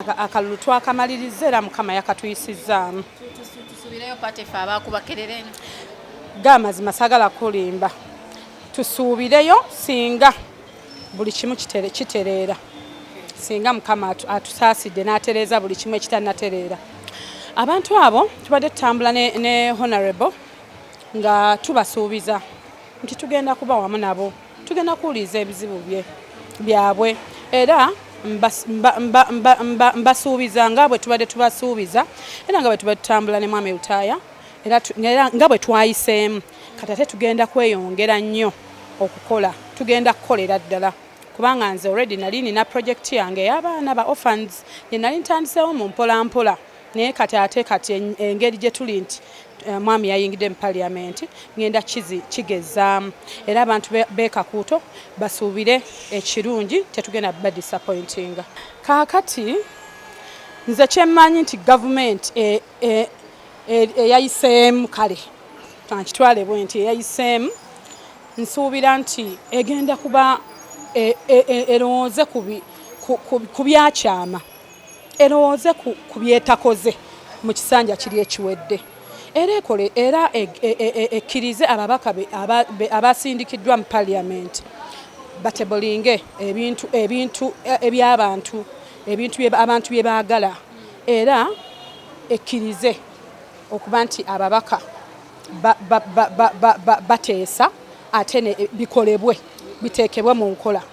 akalulu twakamaliriza era mukama yakatuyisizzaamu tusubireyo pate fe abakubakerera eno ga amazima sagala kulimba tusuubireyo singa buli kimu kitereera singa mukama atusaasidde n'atereeza buli kimu ekitanatereera abantu abo tubadde tutambula ne, ne honorable nga tubasuubiza nti tugenda kuba wamu nabo Tugenda kuwuliriza ebizibu bye byabwe era mbasuubiza nga bwe tubadde tubasuubiza era nga bwe tubadde tutambula ne mwami lutaaya era nga bwe twayiseemu kati ate tugenda kweyongera nnyo okukola tugenda kukolera ddala kubanga nze already nali nina project yange ey'abaana ba orphans gye nali ntandiseewo mu mpolampola mpola. naye kati ate kati engeri gye tuli nti eh, mwami yayingidde mu parliament ngenda kizi kigezaamu era abantu bekakuuto basuubire ekirungi tetugenda ba disappointinga kaakati nze kyemmanyi nti gavumenti eh, eh, eyayiseemu kale ankitwale bwe nti eyayiseemu nsuubira nti egenda kuba erowooze ku byakyama erowooze ku byetakoze mu kisanja kiri ekiwedde era ekole era e, e, e, ekkirize ababaka abasindikiddwa mu parliament batebolinge ebintu ebintu ebyabantu ebintu abantu bye baagala era ekkirize okuba nti ababaka bateesa ate bikolebwe biteekebwe mu nkola